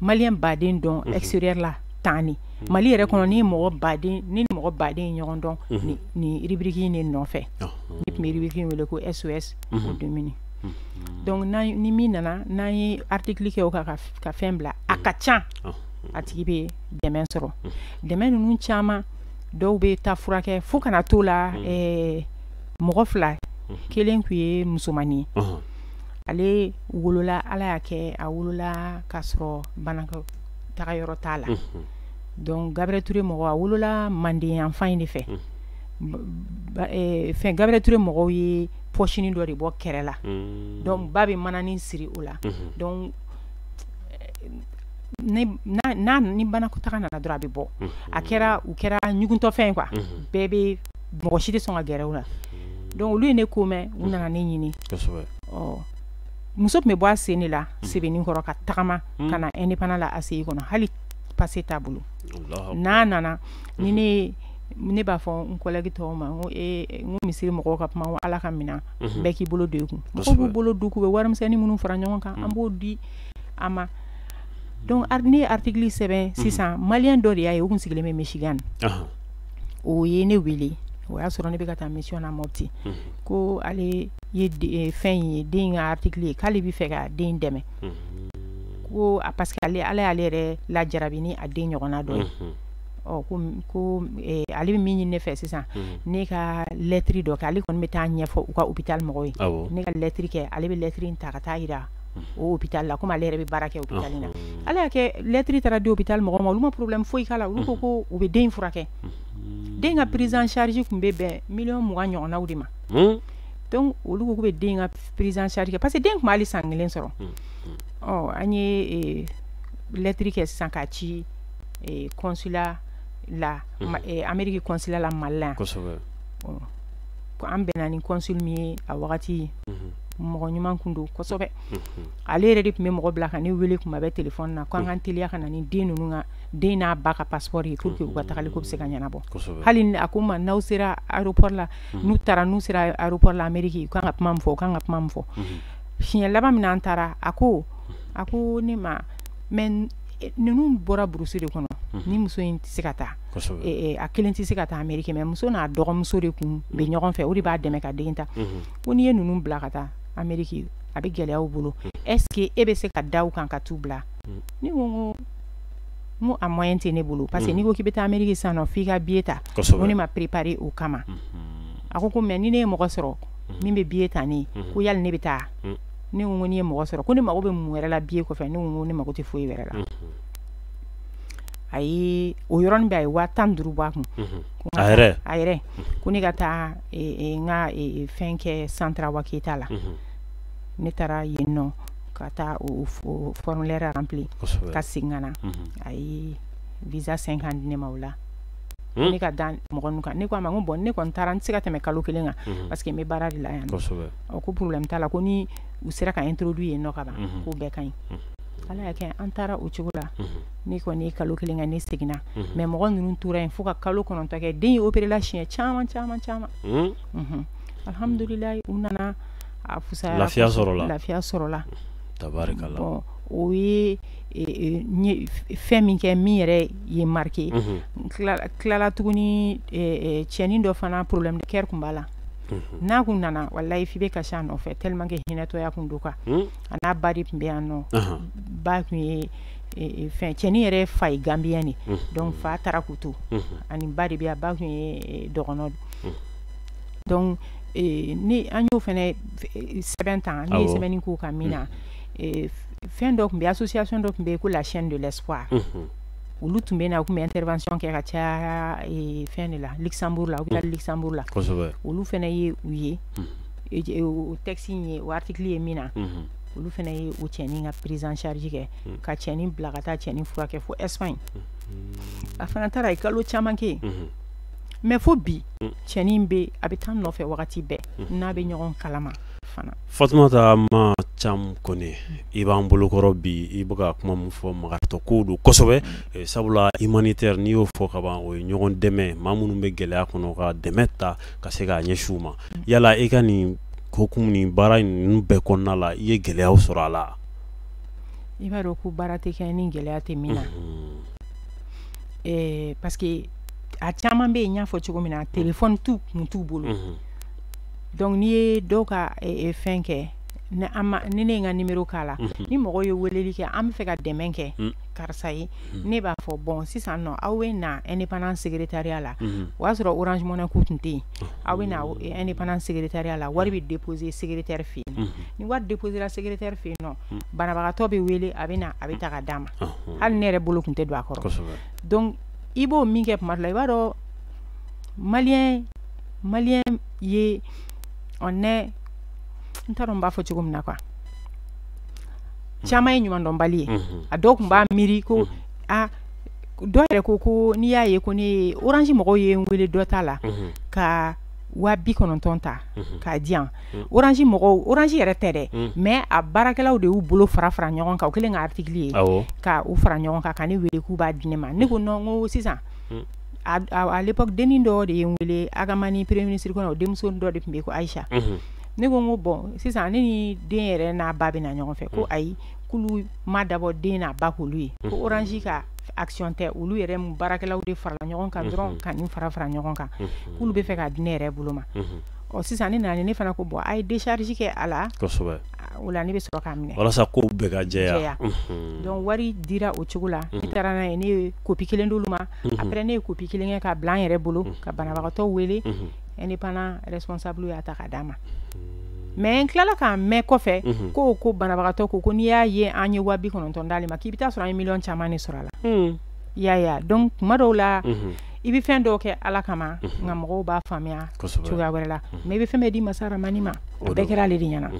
malien baden dɔn extérieur la tan ni mali yɛrɛ kɔnɔ ne ye mɔgɔ baden ne ni mɔgɔ baden ye ɲɔgɔn dɔn ni rubrique in de nɔfɛ ne tun bɛ rubrique wele ko SOS aux démunis dɔnku ni min nana n'an ye article kɛ o kan ka fɛn bila a ka ca a tigi bɛ dɛmɛ sɔrɔ dɛmɛ ninnu caman dɔw bɛ taa furakɛ fo kana to la mɔgɔ fila kelen tun ye musomannin ye ale wolola ala y'a kɛ a wolola k'a sɔrɔ banakɔtaga yɔrɔ t'a la dɔnku Gabriel Touré mɔgɔ a wolola manden yanfan in de fɛ fɛn Gabriel Touré mɔgɔw ye pɔsinin dɔ de bɔ kɛrɛ la dɔnku ba bɛ mananin siri o la dɔnku ni banakɔtaga nana dɔrɔn a bɛ bɔ a kɛra u kɛra ɲuguntɔfɛn quoi bɛɛ bɛ mɔgɔ si tɛ sɔn ka gɛrɛ u la donc olu ye ne ko mɛn u nana ne ɲini muso tun bɛ bɔ a sen de la Sebenikɔrɔ ka tagama ka na Indépendant la ACI kɔnɔ hali pase t'a bolo n'a nana ni ne ne b'a fɔ n kɔlɛki tɔw ma n ko misiri mɔgɔw ka kuma ala ka minɛn bɛɛ k'i bolo don i kun mɔgɔw b'u bolo don u bɛ warimisɛnnin minnu fara ɲɔgɔn kan an b'o di a ma dɔnku ne ye article sɛbɛn sisan malien dɔ de y'a ye o tun sigilen bɛ Michigan o ye ne wele o y'a sɔrɔ ne bɛ ka taa mission na Mopti ko ale ye fɛn in ye den ka article ye k'ale b'a fɛ ka den dɛmɛ ko a parce que ale ala y'ale yɛrɛ lajarabi ni a den ɲɔgɔnna dɔ ye ko ale bɛ min ɲini ne fɛ sisan ne ka lɛtiri dɔ kɛ ale kɔni bɛ taa a ɲɛfɔ u ka hôpital mɔgɔ ye ne ka lɛtiri kɛ ale bɛ lɛtiri ta ka taa yira hôpital la komi ale yɛrɛ bɛ baara kɛ hôpital in na ala y'a kɛ lɛtiri taara di hôpital mɔgɔw ma olu ma problème foyi k'a la olu ko ko u bɛ den furakɛ den ka prise en charge tun bɛ bɛn miliyɔn mugan ɲɔgɔnnaw de ma olu bɛ den ka prise en charge kɛ parce que den ma hali san kelen sɔrɔ ɔ an ye lɛtiri kɛ sisan k'a ci consulat la Amérique consulat la mali la ko an bɛnna ni consul min ye a wagati ye mɔgɔ ɲuman tun don kosɛbɛ ale yɛrɛ de tun bɛ mɔgɔ bila ka ne weele tuma bɛɛ téléphone na ko an ka teliya ka na ni den ninnu ka den n'a ba ka paspɔri ye pour que u ka tagali ko bɛ se ka ɲɛnabɔ hali a ko u ma n'aw sera aéroport la n'u taara n'u sera aéroport la ameriki u ka kan ka kuma min fɔ u ka kan ka kuma min fɔ siɲɛ laban min na an taara a ko a ko ne ma mais ninnu bɔra burusi de kɔnɔ ni muso in tɛ se ka taa a kelen tɛ se ka taa ameriki mais muso n'a dɔgɔmuso de tun bɛ ɲɔgɔn fɛ o de b'a dɛmɛ ka den ta ko n'i ye ninnu bila ka taa ameriki a bɛ gɛlɛya u bolo est-ce que e bɛ se ka da u kan ka t'u bila ne ko a moyen tɛ ne bolo parce que n'i ko k'i bɛ taa ameriki sisan nɔ f'i ka billet ta ne ma préparer o kama a ko ko mais ni ne ye mɔgɔ sɔrɔ min bɛ billet ta ne ye ko yala ne bɛ taa ne ko n'i ye mɔgɔ sɔrɔ ko ne mago bɛ mun wɛrɛ la billet kɔfɛ ne ko ne mako tɛ foyi wɛrɛ la a o yɔrɔ bɛɛ a ye waa tan ni duuru bɔ a kun a yɛrɛ ko ne ka taa n ka fɛn kɛ centre awa keyita la ne taara yen nɔ ka taa formulaire rempli ka segin ka na a ye visa cinq ans di ne ma o la ne ka da mɔgɔ ninnu kan ne k'a ma ko bon ne kɔni taara n tɛ se ka tɛmɛ kalo kelen kan parce que n bɛ baara de la yan ko problème t'a la ko ni u sera ka introduit yen nɔ ka ban k'o bɛɛ ka ɲi ala y'a kɛ an taara o cogo la ne kɔni ye kalo kelen kɛ ne seginna mais mɔgɔ ninnu tora yen fo ka kalo kɔnɔntɔn kɛ den ye opéréla siɲɛ caman caman caman alihamdulilayi u nana a fisaya lafiya sɔrɔ lafiya sɔrɔ tabarikala o ye fɛn min kɛ min yɛrɛ ye n marqué tilala tuguni cɛnin dɔ fana problème de cœur tun b'a la n'a kun nana walayi f'i bɛ kasi a nɔfɛ tellement que hinɛtɔya kun don quoi a n'a ba de tun bɛ yan nɔ ba tun ye fɛn cɛnin yɛrɛ fa ye gambien de donc fa taara k'u to ani ba de bɛ yan ba tun ye dɔgɔnɔ donc ni an y'o fana sɛbɛn tan n' ye sɛbɛnni k'o kan min na fɛn dɔ tun bɛ association dɔ tun bɛ yen ko la chaîne de l'espoir olu tun bɛ na u tun bɛ intervention kɛ ka ca fɛn de la luxembourg la u bɛ luxembourg la olu fana ye u ye o texte ye o article ye min na olu fana ye o cɛnin ka prise en charge kɛ hmm. ka cɛnin bila ka taa cɛnin furakɛ fo espagne hmm. a fana taara ye kalo caman kɛ hmm. mais fo bi cɛnin bɛ a bɛ taa n nɔfɛ wagati bɛɛ n'a bɛ ɲɔgɔn kalama fana fatumata ma cam kɔnɛ i b'an bolokɔrɔ bi i bɛ ka kuma min fɔ makaritɔ kow don kosɛbɛ eh, sabula humanitaire n'i y'o fɔ ka ban o ye ɲɔgɔn dɛmɛ maa minnu bɛ gɛlɛya kɔnɔ ka dɛmɛ ta ka se k'a ɲɛsin u ma yala i ka nin hokumu ni baara ninnu bɛɛ kɔnɔna la i ye gɛlɛya sɔrɔ a la i b'a dɔn ko baara tɛ kɛ ni gɛlɛya tɛ min na parce que a caman bɛ yen n y'a fɔ cogo min na téléphone tun t'u bolo donc n'i ye dɔw ka fɛn kɛ ni ne ye n ka numéro k'a la ni mɔgɔ ye weleli kɛ an bɛ fɛ ka dɛmɛ kɛ karisa ye mhm. ne b'a fɔ bon sisan nɔ aw bɛ na indépendant secrétariat la mhm. o y'a sɔrɔ orange money ko tun tɛ yen mhm. aw bɛ na indépendant secrétariat la wari bɛ déposer secrétaire fɛ yen ni wari déposera secrétaire fɛ yen nɔ banabagatɔ bɛ wele a bɛ na a bɛ ta ka d'a ma hali ne yɛrɛ bolo tun tɛ don a kɔrɔ donc i b'o min kɛ tuma dɔ la i b'a dɔn maliyɛn maliyɛn ye on est n t'a dɔn n b'a fɔ cogo min na quoi caman ye ɲumandɔnbali ye a dɔw tun b'a miiri ko a dɔw yɛrɛ ko ko n'i y'a ye ko ne orange mɔgɔw ye n wele dɔ ta la ka waa bi kɔnɔntɔn ta k'a di yan orange mɔgɔw orange yɛrɛ tɛ dɛ mais a baarakɛlaww de y'u bolo fara fara ɲɔgɔn kan o kɛlen ka article ye ka u fara ɲɔgɔn kan ka ne weele k'u b'a di ne ma ne ko non n ko sisan à l'époque dennin dɔ de ye n weele ag hamani premier ministre kɔrɔ o denmuso dɔ de tun bɛ ko aïcha ne ko n ko bon sisan ne ni den yɛrɛ n'a ba bɛ na ɲɔgɔn fɛ ko ayi k'olu ma dabɔ den n'a ba k'olu ye ko orange ka action tɛ olu yɛrɛ baarakɛlaw de farala ɲɔgɔn kan dɔrɔn ka nin fara fara ɲɔgɔn kan k'olu bɛ fɛ ka di ne yɛrɛ bolo ma ɔ sisan ne nana ne fana ko bɔ a ye desarisi kɛ a la o la ne bɛ sɔrɔ k'a minɛ walasa ko bɛɛ ka jɛya donc wari dira o cogo la ne taara n'a ye ne ye kopi kelen d'olu ma après ne ye kopi kelen kɛ k'a bila an yɛrɛ bolo ka banabagatɔ wele indépendant responsable y'a ta k'a d'a ma mais n tilala k'a mɛn kɔfɛ ko ko banabagatɔ ko ko n'i y'a ye an ye waa bi kɔnɔntɔn d'ale ma k'i bɛ taa sɔrɔ an ye million caman de sɔrɔ a la ya donc tuma dɔw la i bɛ fɛn dɔw kɛ ala kama nka mɔgɔw b'a faamuya cogoya wɛrɛ la mais i bɛ fɛn bɛɛ di masa rahamani ma o bɛɛ kɛra ale de ɲɛna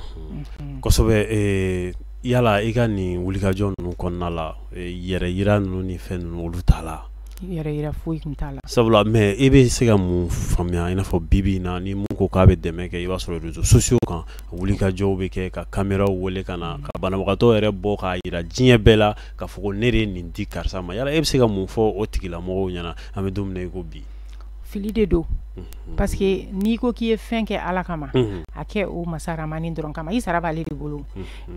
kosɛbɛ yala i ka nin wulikajɔ ninnu kɔnɔna la yɛrɛ yira ninnu ni fɛn ninnu olu t'a la yɛrɛ yira foyi tun t'a la sabula mais i bɛ se ka mun faamuya i n'a fɔ bibi in na ni mun ko k'a bɛ dɛmɛ kɛ i b'a sɔrɔ réseaux sociaux kan wulikajɔw bɛ kɛ ka caméraw weele ka na ka banabagatɔ yɛrɛ bɔ k'a yira diɲɛ bɛɛ la k'a fɔ ko ne de ye nin di karisa ma yala e bɛ se ka mun fɔ o tigilamɔgɔw ɲɛna an bɛ don min na i ko bi fili de don parce que n'i ko k'i ye fɛn kɛ ala kama a kɛ o masa rahamani dɔrɔn kama i sara b'ale de bolo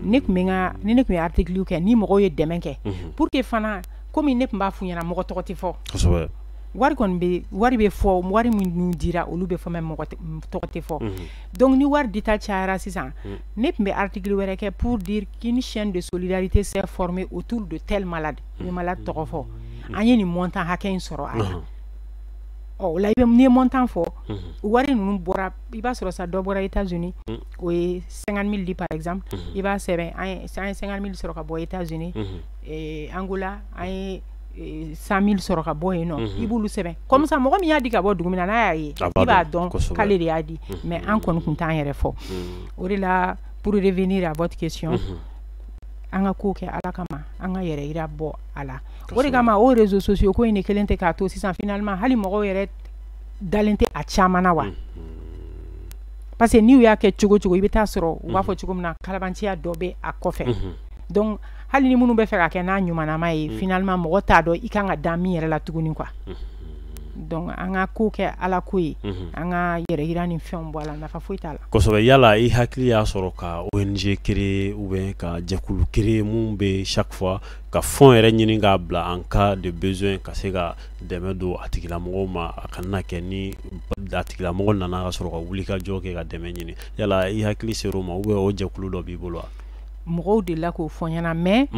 ne tun bɛ ni ne tun ye article kɛ ni mɔgɔw ye dɛmɛ kɛ pour que fana kɔmi ne tun b'a f'u ɲɛna mɔgɔ tɔgɔ tɛ fɔ wari bɛ wari bɛ fɔ wari minnu dira olu bɛ fɔ mɔgɔ tɔgɔ tɛ fɔ donc ni wari dita cayara sisan ne tun bɛ article wɛrɛ kɛ pour dire qu'une chaîne de solidarité s'est formée autour de tel malade malade tɔgɔ fɔ an ye nin montant hakɛ in sɔrɔ a la ɔ o la i bɛ ni montant fɔ wari ninnu bɔra i b'a sɔrɔ sa dɔ bɔra États-Unis o ye cinquante mille di par exemple i b'a sɛbɛn an ye cinquante mille sɔrɔ ka bɔ États-Unis Angola an ye cent mille sɔrɔ ka bɔ yen nɔn i b'olu sɛbɛn comme ça mɔgɔ min y'a di ka bɔ dugu min na n'a y'a ye i b'a dɔn k'ale de y'a di mais an kɔni kun t'an yɛrɛ fɔ o de la pour revenir à votre question an ka ko kɛ ala kama an ka yɛrɛ yira bɔ a la o de kama o réseaux sociaux ko in de kelen tɛ k'a to sisan finalement hali mɔgɔw yɛrɛ dalen tɛ a caman na wa parce que n'u y'a kɛ cogo cogo i bɛ taa sɔrɔ u b'a fɔ cogo min na kalabanciya dɔ bɛ a kɔfɛ hali ni minnu bɛ fɛ ka kɛ n'a ɲumanama ye mm. finalement mɔgɔ t'a dɔn i kan ka da min yɛrɛ la tuguni quoi mm. donc an ka ko kɛ ala ko ye mm-hmm. an ka yɛrɛ yira ni fɛn bɔ a la nafa foyi t'a la kosɛbɛ yala i hakili y'a sɔrɔ ka ONG créer ou bien ka jɛkulu créer min bɛ chaque fois ka fonds yɛrɛ ɲini k'a bila en cas de besoin ka se ka dɛmɛ don a tigilamɔgɔ ma a kana kɛ ni a tigilamɔgɔ nana ka sɔrɔ ka wulikajɔ kɛ ka dɛmɛ ɲini yala i hakili ser'o ma ou bien o jɛkulu dɔ b'i bolo wa mɔgɔw delila k'o fɔ ɲɛna mais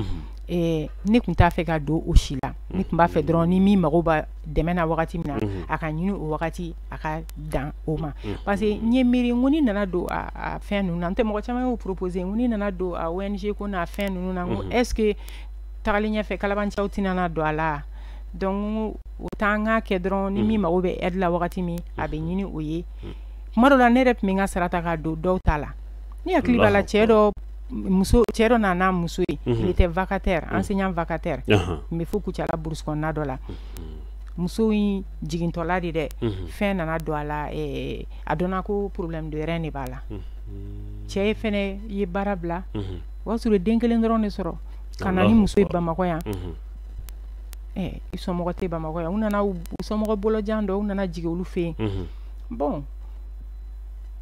ne tun t'a fɛ ka don o si la ne tun b'a fɛ dɔrɔn ni min mago bɛ dɛmɛ na wagati min na a ka ɲini o wagati a ka dan o ma parce que n ye miiri ko ni nana don fɛn ninnu na n tɛ mɔgɔ caman y'o proposer n ko ni nana don a ONG ko n'a fɛn ninnu na ko est-ce que tagalen ɲɛfɛ kalabanciw tɛna don a la donc o t'an k'a kɛ dɔrɔn ni min mago bɛ aide la wagati min a bɛ ɲini o ye kuma dɔ la ne yɛrɛ tun bɛ n ka sara ta k'a don dɔw ta la Ni hakili b'a la cɛ dɔ muso cɛ dɔ nana muso ye il était vacataire enseignant vacataire n bɛ fo Kucala brousse kɔnɔna dɔ la muso in jigintɔla de dɛ fɛn nana don a la a dɔnna ko problème de rein de b'a la cɛ ye fɛnɛ ye baara bila o y'a sɔrɔ den kelen dɔrɔn de sɔrɔ ka na ni muso ye bamakɔ yan i somɔgɔ tɛ bamakɔ yan u nana u somɔgɔ bolojan dɔ u nana jigi olu fɛ yen bon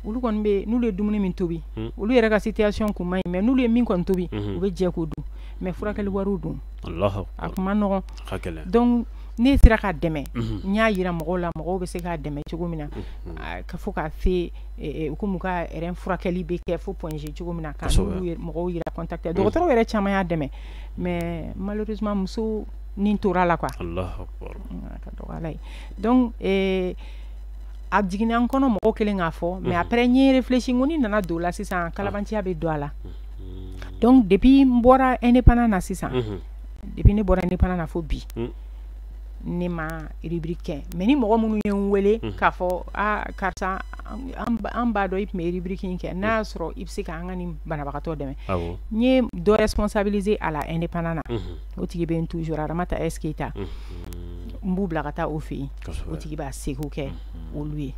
olu kɔni bɛ n'olu ye dumuni min tobi olu yɛrɛ ka situation kun man ɲi mais n'olu ye min kɔni tobi u bɛ jɛ k'o dun mais furakɛli wari dun a tun man nɔgɔ donc ne sera ka dɛmɛ n y'a jira mɔgɔw la mɔgɔw bɛ se k'a dɛmɛ cogo min na ka fɔ k'a se kɔmi ka rein furakɛli bɛ kɛ fo Point G cogo min na ka mɔgɔw yɛrɛ contacter dɔgɔtɔrɔw yɛrɛ caman y'a dɛmɛ mais malheureusement muso ni tor'a la qu a jiginna n kɔnɔ mɔgɔ kelen k'a fɔ mais après n ye réfléchi ko ni nana don la sisan kalabanciya bɛ don a la donc depuis n bɔra indépendant na sisan depuis ne bɔra indépendant na fo bi ne ma rubrique kɛ mais ni mɔgɔ minnu ye n weele k'a fɔ aa karisa an b'a dɔn i tun bɛ rubrique in kɛ n'a y'a sɔrɔ i bɛ se k'an ka nin banabagatɔ dɛmɛ n ye dɔ responsabiliser a la indépendant na o tigi bɛ yen toujours Aramata S Keita n b'u bila ka taa o fɛ yen o tigi b'a seko kɛ mhm. olu ye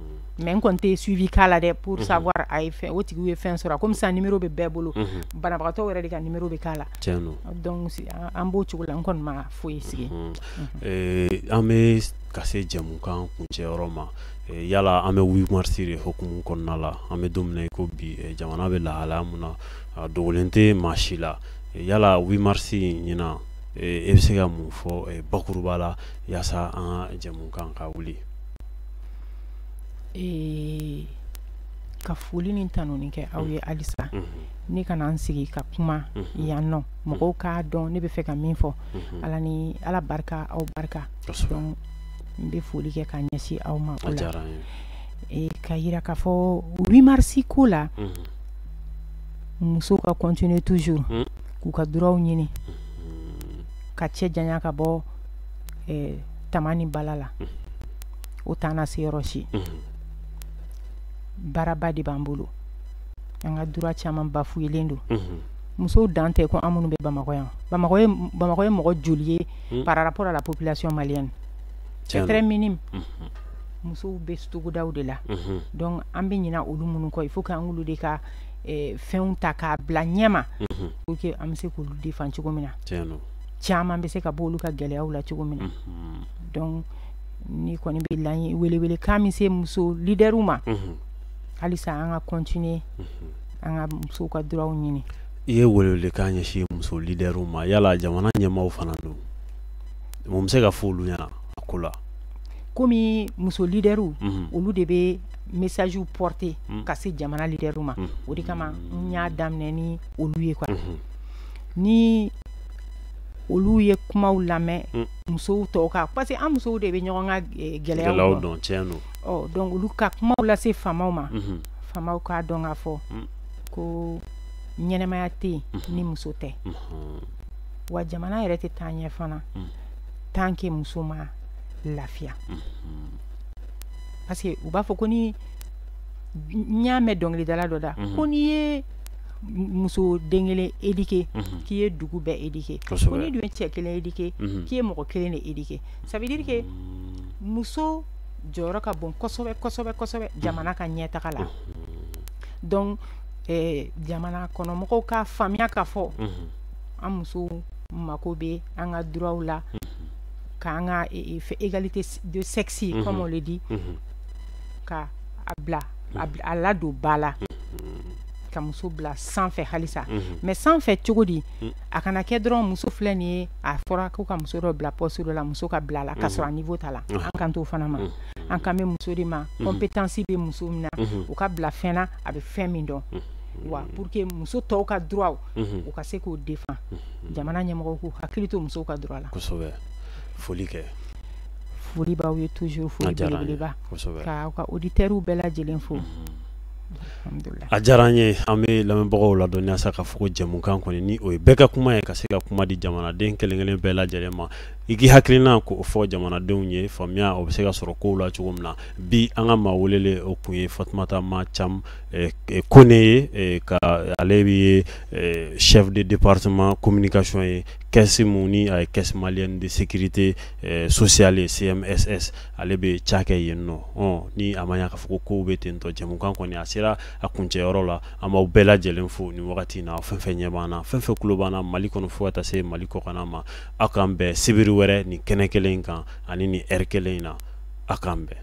mhm. mais n kɔni tɛ suivi k'a la dɛ pour mhm. savoir a ye fɛn o tigiw ye fɛn sɔrɔ comme ça numéro bɛ bɛɛ bolo banabagatɔ yɛrɛ de ka numéro bɛ k'a la donc an b'o cogo la n kɔni ma foyi sigi eh, an bɛ ka se jɛmukan kuncɛyɔrɔ ma eh, yala an bɛ 8 mars de hukumu kɔnɔna la an bɛ don min na i ko bi eh, jamana bɛ lahalaya mun na a dogolen tɛ maa si la yala 8 mars in ɲinan e bɛ se ka mun fɔ bakuruba la yaasa an ka jɛmukan ka wuli ee ka foli ni tanuni kɛ aw ye mm. halisa mm -hmm. ne ka na n sigi ka kuma mm -hmm. yan nɔ mm-hmm. mɔgɔw k'a dɔn ne bɛ fɛ ka min fɔ mm -hmm. ala ni ala barika aw barika donc n bɛ foli kɛ ka ɲɛsin aw ma o la e, ka yira k'a fɔ 8 mars ko la mm -hmm. musow ka continuer toujours mm -hmm. k'u ka droitw ɲini mm -hmm. ka cɛ janya ka bɔ tama ni bala la o t'an nase yɔrɔ si baaraba de b'an bolo an ka droit caman bafuyelen don musow dan tɛ ko an minnu bɛ bamakɔ yan bamakɔ ye mɔgɔ joli ye par rapport à la population malienne c'est très minime musow bɛ togodaw de la donc an bɛ ɲina olu minnu kɔ il faut que an k'olu de ka fɛnw ta k'a bila ɲɛma pour que an bɛ se k'olu défend cogo min na caman bɛ se ka bɔ olu ka gɛlɛyaw la cogo min na mhm. donc n kɔni bɛ laɲini welewele kan min se muso leaderw ma mhm. halisa an ka continuer mhm. an ka musow ka droitw ɲini i ye welewele kan ɲɛsin muso leaderw ma yala jamana ɲɛmaaw fana dun mun bɛ se ka fɔ olu ɲɛna a ko la komi muso leaderw olu de bɛ message porter ka se jamana leaderw ma o de kama n y'a daminɛ ni olu ye quoi ni olu ye kumaw lamɛn mm. musow tɔw kan parce que an musow de bɛ ɲɔgɔn ka eh, gɛlɛyaw dɔn tiɲɛ don ɔ donc olu ka kumaw lase faamaw ma mm-hmm. faamaw k'a dɔn k'a fɔ mm. ko ɲɛnamaya tɛ yen mm-hmm. ni muso tɛ mm-hmm. wa jamana yɛrɛ tɛ taa ɲɛ fana mm. tant que muso ma lafiya parce que u b'a fɔ ko ni n y'a mɛn dɔnkilidala dɔ da ko n'i ye muso den kelen éduquer unhun k'i ye dugu bɛɛ éduquer kosɛbɛ ko n'i dun ye cɛ kelen éduquer unhun k'i ye mɔgɔ kelen de éduquer ça veut dire que muso jɔyɔrɔ ka bon kosɛbɛ kosɛbɛ kosɛbɛ jamana ka ɲɛtaga la donc ɛɛ jamana kɔnɔ mɔgɔw k'a faamuya k'a fɔ unhun an musow mako bɛ an ka droits la k'an ka e- e- fɛ égalité de sexe comme on le dit unhun ka a bila a ladon ba la ka muso bila sanfɛ halisa mais sanfɛ cogo di a kana kɛ dɔrɔn muso filɛ nin ye a fɔra ko ka muso dɔ bila poste dɔ la muso ka bila la k'a sɔrɔ a niveau t'a la an kan t'o fana ma an kan bɛ muso de ma compétence bɛ muso min na u ka bila fɛn na a bɛ fɛn min dɔn wa pour que muso tɔw ka droit u ka se k'o défend jamana ɲɛmɔgɔw k'u hakili to musow ka droit la foli kɛ foli b'aw ye toujours foli belebeleba ka ka auditeurs bɛɛ lajɛlen fo a diyara an ye an bɛ lamɛnbagaw ladɔnniya sa k'a fɔ ko jɛmukan kɔni ni o ye bɛɛ ka kuma ye ka se ka kuma di jamanaden kelen kelen bɛɛ lajɛlen ma i k'i hakilina k'o fɔ jamanadenw ye faamuya o bɛ se ka sɔrɔ kow la cogo min na bi an ka maa welelen o kun ye Fatumata Ma Cam eh, eh, Kone ye eh, ka ale de ye chef de département communication ye caisse mun ni a ye caisse malienne de sécurité eh, sociale ye CMSS ale bɛ cakɛ yen nɔ ɔn ni a ma ɲa k'a fɔ ko kow bɛ ten tɔ jɛmukan kɔni a sera a kuncɛ yɔrɔ la an b'aw bɛɛ lajɛlen fo nin wagati in na fɛn fɛn ɲɛ b'an na fɛn fɛn kulo b'an na Mali kɔnɔ fo ka taa se Mali kɔkanna ma aw k'an bɛn sibiri wɛrɛ nin kɛnɛ kelen in kan ani nin heure kelen in na aw k'an bɛn